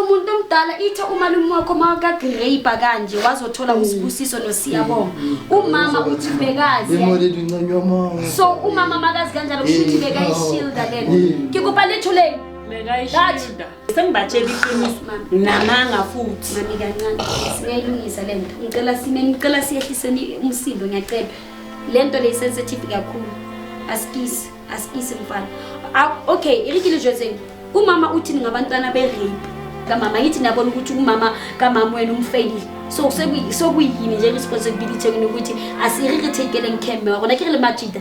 umuntu omdala ithe umalume wakho makagrape kanje wazothola mm. usibusiso nosiyabonga mm. umama uthi bekazi so umama makazi kanjalo kusho ukuthi bekayishilda lena ngikupha lethuleni bekayishilda Sengibatshela iqiniso namanga futhi. Mami kancane singayilungisa le nto. Ngicela sime ngicela siyehliseni umsindo ngiyacela. Le nto le sensitive kakhulu. Asikisi asikisi mfana. Ah, okay, irikile jwetseng. Umama uthini ngabantwana be rape? kamama yithi nabona ukuthi umama kamama wena umfeyile so sekuyini nje responsibility yenu ukuthi asiririthekeleng camera kona ke re le majida